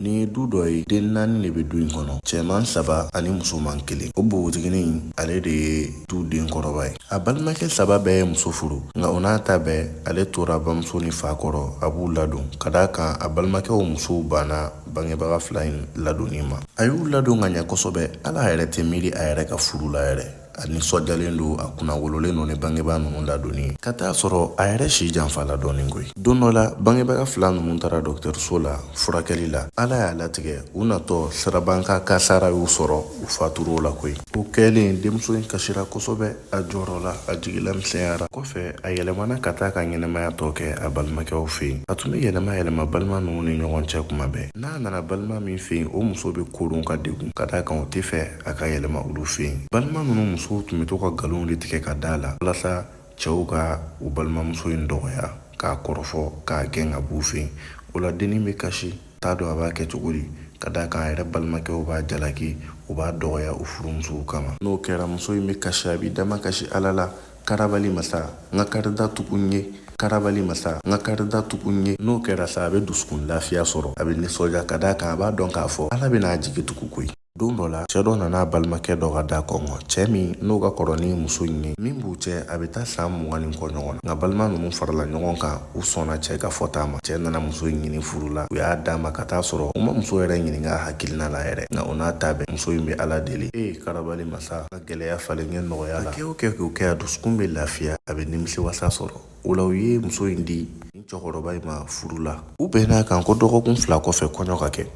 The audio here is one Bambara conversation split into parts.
Nin ye du dɔ ye den naani de bɛ du in kɔnɔ cɛman saba ani musoman kelen o bogotiginin ale de ye du den kɔrɔba ye a balimakɛ saba bɛɛ ye muso furu nka o n'a ta bɛɛ ale tora bamuso ni fa kɔrɔ a b'u ladon ka d'a kan a balimakɛw musow banna bangebaga fila in ladonni ma a y'u ladon ka ɲɛ kosɛbɛ hali a yɛrɛ tɛ miiri a yɛrɛ ka furu la yɛrɛ a nisɔndiyalen don a kunnawololen don ni bangebaa ninnu ladonni ye ka taa sɔrɔ a yɛrɛ si janfala dɔɔnin koyi don dɔ la bangebaga fila ninnu taara dɔgɔtɔrɔso la furakɛli la ala y'a latigɛ u natɔ sirabakan kasaara y'u sɔrɔ u fatur'o la koyi o kɛlen denmuso in kasira kosɛbɛ a jɔrɔla a jigi lamisɛnyara kɔfɛ a yɛlɛmana ka taa ka ɲɛnamaya tɔ kɛ a balimakɛw fɛ yen a tun bɛ yɛlɛma yɛlɛma balima ninnu ni ɲɔgɔn cɛ kuma bɛɛ n'a nana balima min fɛ yen o muso b'a koron k'a degun ka d'a kan o t'a fɛ a ka yɛlɛma olu fɛ yen balima ninnu musow tun bɛ to ka nkalonw de tigɛ ka d'a la walasa cɛw ka u balimamuso in dɔgɔya k'a kɔrɔfɔ k'a gɛn ka b'u fɛ yen o la dennin bɛ kasi t'a dɔn a b'a kɛ cogo di ka d'a kan a yɛrɛ balimakɛw b'a jalaki u b'a dɔgɔya u furumusow kama n'o kɛra muso in bɛ kasi a b'i damakasi ala la karabali masa n ka karida tugu n ye karabali masa n ka karida tugu n ye n'o kɛra sa a bɛ dusukun lafiya sɔrɔ a bɛ nisɔndiya ka d'a kan a b'a dɔn k'a fɔ ala bɛna a jigi tugu koyi don dɔ la cɛɛ dɔ nana a balimakɛ dɔ ka da kɔnkɔn cɛɛ min n'o ka kɔrɔ ni muso in ye min b'u cɛ a bɛ taa saan mugan ni kɔ ɲɔgɔn na nka balima ninnu farala ɲɔgɔn kan u sɔnna cɛɛ ka fɔta ma cɛɛ nana muso in ɲini furu la u y'a d'a ma ka taa sɔrɔ u ma muso yɛrɛ ɲininka a hakilina la yɛrɛ nka o n'a ta bɛɛ muso in bɛ ala deli ee karabali masa ka gɛlɛya falen n ye nɔgɔya la a kɛ o kɛ k'o kɛ a dusukun bɛ lafiya a bɛ nimisiwasa sɔrɔ o la u ye muso in di nin cɛkɔrɔba in ma furu la u bɛnn'a kan ko dɔgɔkun fila kɔfɛ kɔɲɔ ka kɛ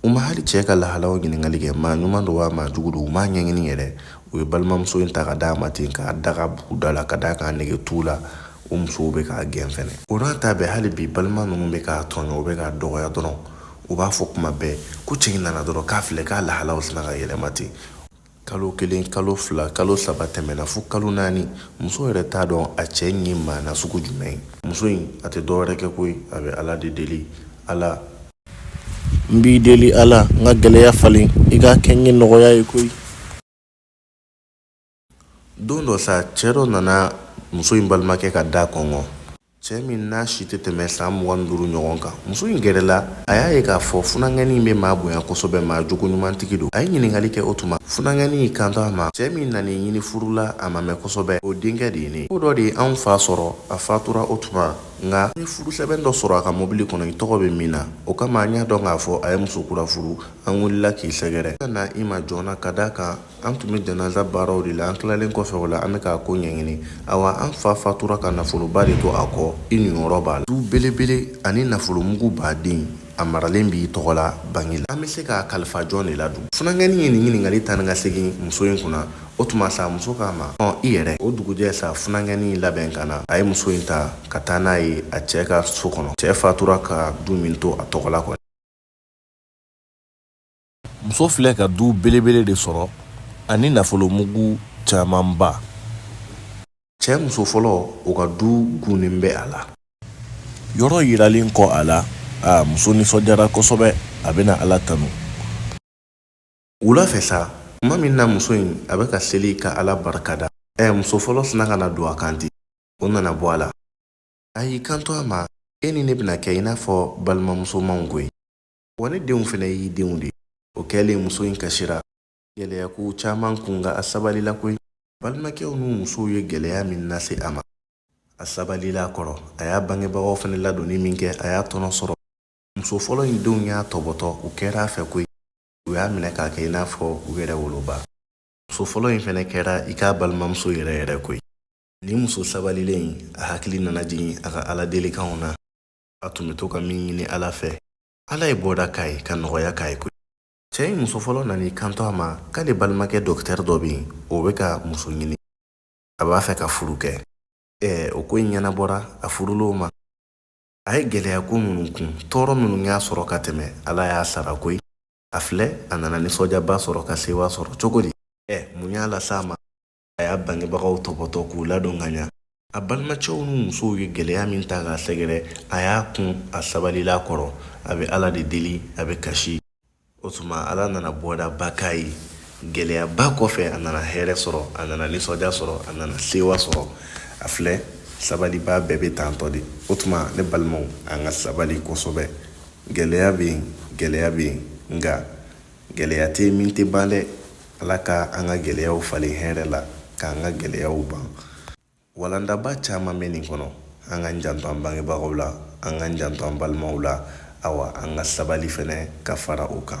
u ma hali cɛɛ ka lahalaw ɲininkali kɛ maa ɲuman don wa maa jugu don u m'a ɲɛɲini yɛrɛ u ye balimamuso in ta ka d'a ma ten k'a daga bugu da la ka d'a kan a nege t'u la u musow be k'a gɛn fɛnɛ o n'a ta bɛɛ hali bi balima nunu be k'a tɔɲɔ u be k'a dɔgɔya dɔrɔn u b'a fɔ kuma bɛɛ ko cɛ in nana dɔrɔn k'a filɛ k'a lahalaw sinna ka yɛlɛma ten kalo kelen kalo fila kalo saba tɛmɛna fo kalo naani muso yɛrɛ t'a dɔn a cɛ in ye maa nasugu jumɛn ye muso in a tɛ dɔwɛrɛ kɛ koyi a bɛ ala de deli ala n b'i deli ala n ka gɛlɛya falen i k'a kɛ n ye nɔgɔya ye koyi don dɔ sa cɛ dɔ nana muso in balimakɛ ka da kɔnkɔn Cɛ min n'a si tɛ tɛmɛ san mugan duuru ɲɔgɔn kan, muso in gɛrɛla a y'a ye k'a fɔ funankɛnin in bɛ maa bonya kosɛbɛ, maa jogoɲumantigi don. A ye ɲininkali kɛ o tuma, funankɛnin y'i kanto a ma, Cɛ min nan'i ɲini furu la, a ma mɛn kosɛbɛ, o denkɛ de ye ne ye. Ko dɔ de ye anw fa sɔrɔ, a fatura o tuma, nka n ye furusɛbɛn dɔ sɔrɔ a ka mɔbili kɔnɔ i tɔgɔ bɛ min na. O kama an y'a dɔn k'a fɔ a ye muso kura furu, an wulila k'i sɛgɛrɛ. An ka na i ma joona ka d'a kan, an tun bɛ janaza baaraw de la an tilalen kɔfɛ o la an bɛ k'a ko ɲɛɲini awa an fa fatura ka nafoloba de to a kɔ i niyɔrɔ b'a la du belebele ani nafolomuguba dɛ a maralen b'i tɔgɔ la banki la an bɛ se k'a kalifa jɔn de la dun funankɛnin ye nin ɲininkali taa ni ka segin muso in kunna o tuma sa muso k'a ma ɔ i yɛrɛ o dugujɛ sa funankɛnin labɛn ka na a ye muso in ta ka taa n'a ye a cɛ ka so kɔnɔ cɛ fatura ka du min to a tɔgɔ la kɔni muso filɛ ka du belebele de sɔrɔ ani nafolomugu camanba cɛ muso fɔlɔ o ka du gunnen bɛ a la yɔrɔ yiralen kɔ a la a muso nisɔndiyara kosɛbɛ a bɛna ala tanu wula fɛ sa tuma min na muso in a bɛ ka seli ka ala barikada ɛ muso fɔlɔ sinna ka na don a kan ten o nana bɔ a la a y'i kanto a ma e ni ne bɛna kɛ i n'a fɔ balimamusomaw koyi wa ne denw fɛnɛ y'i denw de ye o kɛlen muso in kasira gɛlɛya kow caman kun nka a sabalila koyi balimakɛw n'u musow ye gɛlɛya min lase a ma a sabalila a kɔrɔ a y'a bangebagaw fɛnɛ ladonni min kɛ a y'a tɔnɔ sɔrɔ muso fɔlɔ in denw y'a tɔbɔtɔ u kɛra a fɛ koyi u y'a minɛ k'a kɛ i n'a fɔ u yɛrɛ woloba muso fɔlɔ in fɛnɛ kɛra i k'a balimamuso yɛrɛ yɛrɛ koyi nin muso sabalilen in a hakili nana jigin a ka ala delikanw na a tun bɛ to ka min ɲini ala fɛ ala ye bɔda k'a ye ka nɔgɔya k'a ye koyi cɛ in muso fɔlɔ nana i kanto a ma k'ale balimakɛ dɔkitɛri dɔ bɛ yen o bɛ ka muso ɲini a b'a fɛ ka furu kɛ ɛɛ o ko in ɲɛnabɔra a furulen o ma a ye gɛlɛya ko minnu kun tɔɔrɔ minnu y'a sɔrɔ ka tɛmɛ ala y'a sara koyi a filɛ a nana nisɔndiyaba sɔrɔ ka sewa sɔrɔ cogo di ɛ mun y'a lase a ma a y'a bangebagaw tɔpɔtɔ k'u ladon ka ɲa a balimacɛw ni musow ye gɛlɛya min ta k'a sɛgɛrɛ a y'a kun a sabalila a kɔrɔ a bɛ ala de deli a bɛ kasi o tuma ala nana bɔdaba k'a ye gɛlɛyaba kɔfɛ a nana hɛrɛ sɔrɔ a nana nisɔndiya sɔrɔ a nana sewa sɔrɔ a filɛ sabalibaa bɛɛ bɛ tantɔ de o tuma ne balimaw an ka sabali kosɛbɛ gɛlɛya bɛ yen gɛlɛya bɛ yen nka Gɛlɛya tɛ yen min tɛ ban dɛ. Ala ka an ka gɛlɛyaw falen hɛrɛ la, k'an ka gɛlɛyaw ban. Walandaba caman bɛ nin kɔnɔ. An k'an janto an bangebagaw la, an k'an janto an balimaw la, awa, an ka sabali fana ka fara o kan.